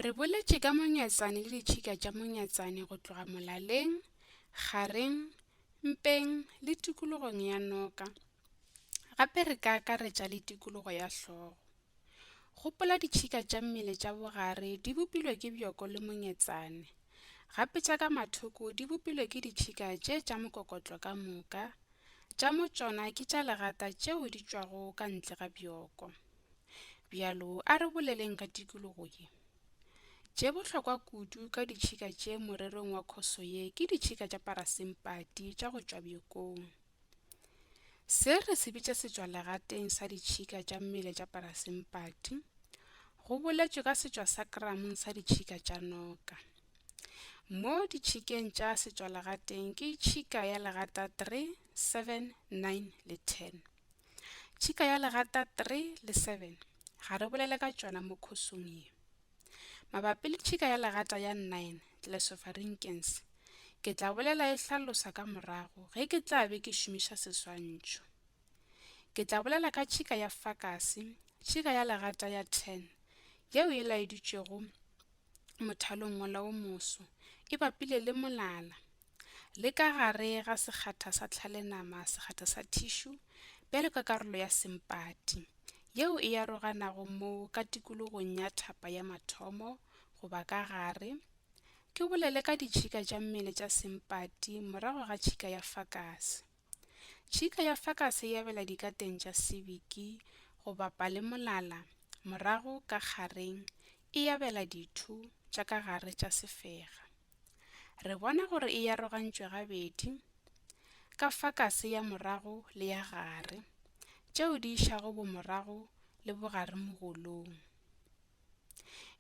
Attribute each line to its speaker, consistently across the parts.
Speaker 1: Re boletše ka monyatsane le ditšhika tša monyatsane go tloga molaleng, kgareng, mpeng le tikologong ya noka. Gape re ka akaretša le tikologo ya hlogo. Gopola ditšhika tša mmele tša bogare di bopilwe ke bjoko le monyatsane, gape tša ka mathoko di bopilwe ke ditšhika tše tša mokokotlo ka moka, tša mo tšona ke tša legata tšeo di tšwago ka ntle ga bjoko. Bjalo a re boleleng ka tikologo ye. Tše bohlokwa kudu ka ditšhika tše morerong wa khoso ye ke ditšhika tša parasimpati tša go tšwa bjokong. Se re se bitša setswalegateng sa ditšhika tša mmele tša parasimpati, go boletšwe ka setšwa sa kramong sa ditšhika tša noka. Mo ditšhikeng tša setswalegateng ke tšhika ya legata 3, 7, 9 le 10. Tšhika ya legata 3 le 7 ga re bolele ka tšona mo khosong ye. Mabapi le tšhika ya legata ya 9, Tlelesofarinkens, ke tla bolela e hlalosa ka morago ge ke tla be ke šomiša seswantšho. Ke tla bolela ka tšhika ya fakase, tšhika ya legata ya 10, yeo e laeditšwego mothalong mola o moso, e bapile le molala. le ka gare ga sekgatha sa tlhalenama sekgatha sa thišu bjalo ka karolo ya sempati yeo e aroganago mo ka tikologong ya thapa ya mathomo goba ka gare ke bolele ka ditšhika tša mmele tša sempati morago ga tšhika ya fakase tšhika ya fakase e abela dikateng tša sebiki goba palemolala morago ka gareng e abela ditho tša ka gare tša sefega Re bona gore e arogantšwe gabedi, ka fa kase ya morago le ya gare, tšeo di išago bomorago le bogare mogolong.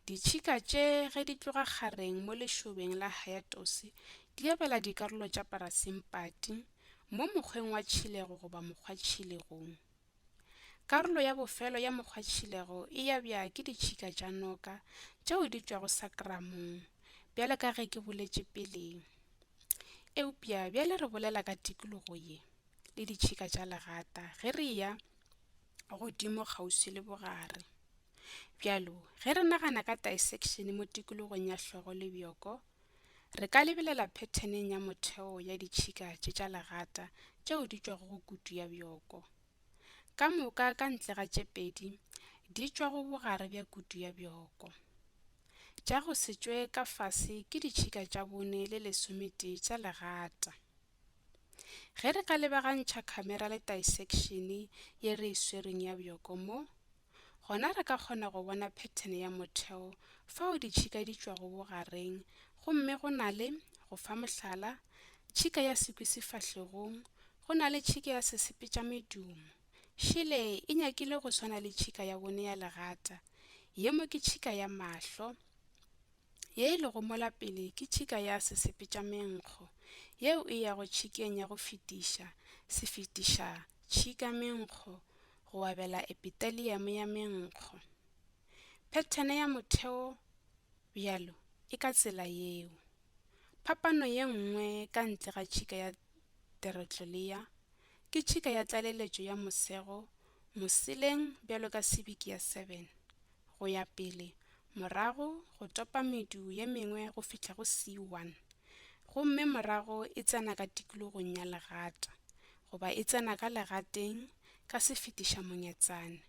Speaker 1: Ditšhika tše ge di tloga kgareng mo lešobeng la hayatose di abela dikarolo tša parasimpati mo mokgweng wa tšhilego goba mokgwa-tšhilegong. Karolo ya bofelo ya mokgwatšhilego e yabja ke ditšhika tša noka tšeo di tšwago sakramong, bjale ka ge ke boletše peleng. Eupja bjale re bolela ka tikologo ye le ditšhika tša legata ge re eya godimo kgauswi le bogare. Bjalo ge re nagana ka dissection mo tikologong ya hlogo le bjoko, Re ka lebelela phetheneng ya motheo ya ditšhika tše tša legata tšeo di tšwago go kutu ya bjoko. Ka moka ka ntle ga tše pedi di tšwa go bogare bja kutu ya bjoko. Tša go se tšwe ka fase ke ditšhika tša bone le lesometee tša legata. Ge re ka lebagantšha khamera le taesekšene ye re e swereng ya bjoko mo, Gona re ka kgona go bona phethene ya motheo fao ditšhika di tšwago bogareng gomme go na le, go fa mohlala, tšhika ya sekwi sefahlegong, go na le tšhika ya sesepetšamedumo. Šele e nyakile go swana le tšhika ya bone ya legata. Ye mo ke tšhika ya mahlo. Ye e lego mola pele ke tšhika ya sesepetšamenkgo, yeo e yago tšhikeng ya go fetiša, sefetiša-tšhika-menkgo, go abela epiteliamo ya menkgo phethene ya motheo bjalo e ka tsela yeo. Phapano ye nngwe ka ntle ga tšhika ya teretlolea ke tšhika ya tlaleletšo ya mosego moseleng bjalo ka sibiki ya 7 go ya pele morago go topa medu ye mengwe go fihla go C1 gomme morago e tsena ka tikologong ya legata goba e tsena ka legateng ka sefetiša monyatsane,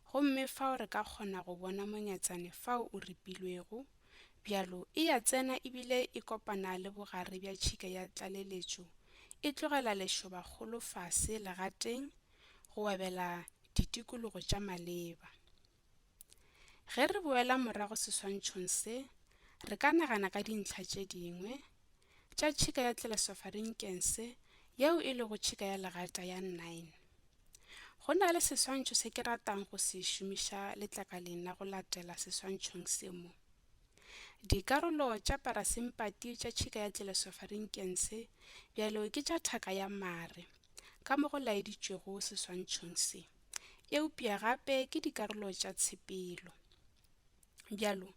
Speaker 1: gomme fao re ka kgona go bona monyatsane fao o ripilwego, bjalo e ya tsena ebile e kopana le bogare bja tšhika ya tlaleletšo, e tlogela lešoba kgolo fase legateng go webela ditikologo tša maleba. Ge re boela morago seswantšhong se, re ka nagana ka dintlha tše dingwe tša tšhika ya Tlelesofarinkese yeo e lego tšhika ya legata ya 9. Go na le seswantšho se ke ratang go se šomiša letlakaleng la go latela seswantšhong se mo. Dikarolo tša parasimpati tša tšhika ya Tlelesofarinkese bjalo ke tša thaka ya mare, ka mo go laeditšwego seswantšhong se. eupša gape ke dikarolo tša tshepelo. Bjalo,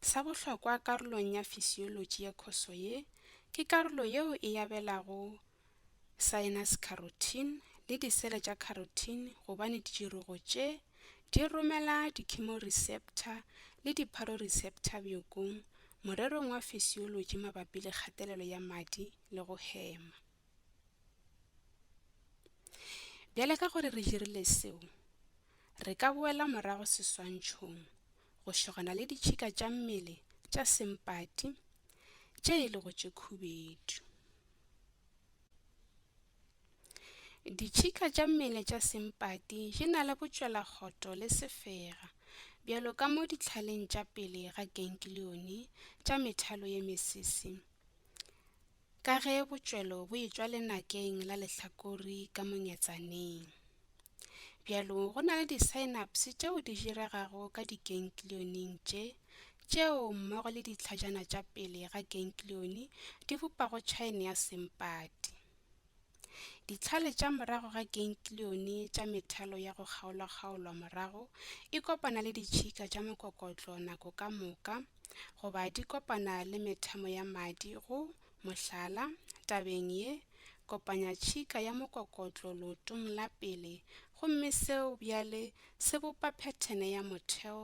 Speaker 1: sa bohlokwa karolong ya fisiolotši ya khoso ye ke karolo yeo e abelago synapse carotene le disele tša carotene gobane ditširogo tše di romela di-chemoreceptor le di-photoreceptor bjokong morerong wa fisiolotši mabapi le kgatelelo ya madi le go hema. Bjale ka gore re dirile seo, re ka boela morago seswantšhong go šogana le ditšhika tša mmele tša sempati tše e lego tše khubedu. Ditšhika tša mmele tša sempati di na le botšwelakgotho le sefega bjalo ka mo dihlaleng tša pele ga ganglione tša methalo ye mesese. Ka ge botšwelo bo etšwa lenakeng la lehlakori ka mongetsaneng, bjalo go na le di-synapse tšeo di diregago ka dikenklioneng tše, tšeo mmogo le ditlhajana tša pele ga kenklione di bopago tšhaene ya sempati. Ditlhale tša morago ga kenklione tša methalo ya go kgaolwakgaolwa morago e kopana le ditšhika tša mokokotlo nako ka moka goba di kopana le methamo ya madi go, mohlala, tabeng ye, kopanya tšhika ya mokokotlo lootong la pele gomme seo bjale se bopa phethene ya motheo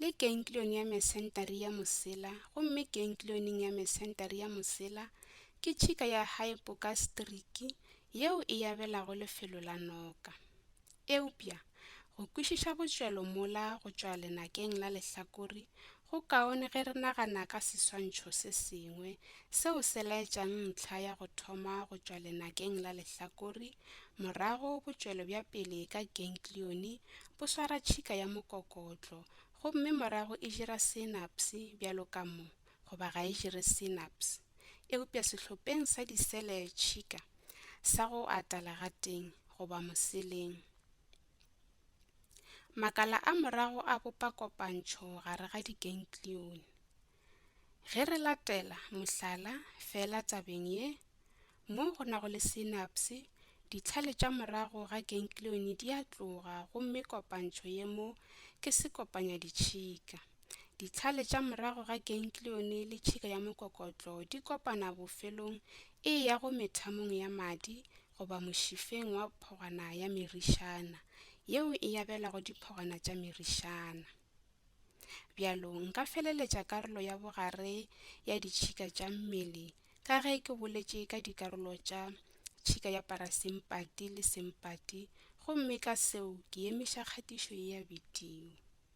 Speaker 1: le keinklione ya mesentari ya mosela gomme keinklioneng ya mesentari ya mosela ke tšhika ya haepokaseteriki yeo e abelago lefelo la noka eupja go kwešiša botšwelo mola go tšwa lenakeng la lehlakore go kaone ge re nagana ka seswantšho se sengwe seo se laetšang ntlha ya go thoma go tšwa lenakeng la lehlakore morago botšwelo bja pele ka keinklione bo swara tšhika ya mokokotlo gomme morago e dira synapse bjalo ka mo, goba ga e dire synapse. Eupša sehlopeng sa disele tšhika sa go ata legateng goba moseleng. Makala a morago a bopa kopantšho gare ga digenklione. Ge re latela mohlala feela tabeng ye, mo go nago le synapse, ditlhale tša morago ga ganglione di a tloga gomme kopantšho ye mo ke sekopanyaditšhika. Ditlhale tša morago ga ganglione le tšhika ya mokokotlo di kopana bofelong e ya go methamong ya madi goba mošifeng wa phogwana ya merišana, yeo e abelago diphogwana tša merišana. Bjalo, nka feleletša karolo ya bogare ya ditšhika tša mmele ka ge ke boletše ka dikarolo tša tšhika ya parasimpati le simpati gomme ka seo ke emiša kgatišo ye ya bidio.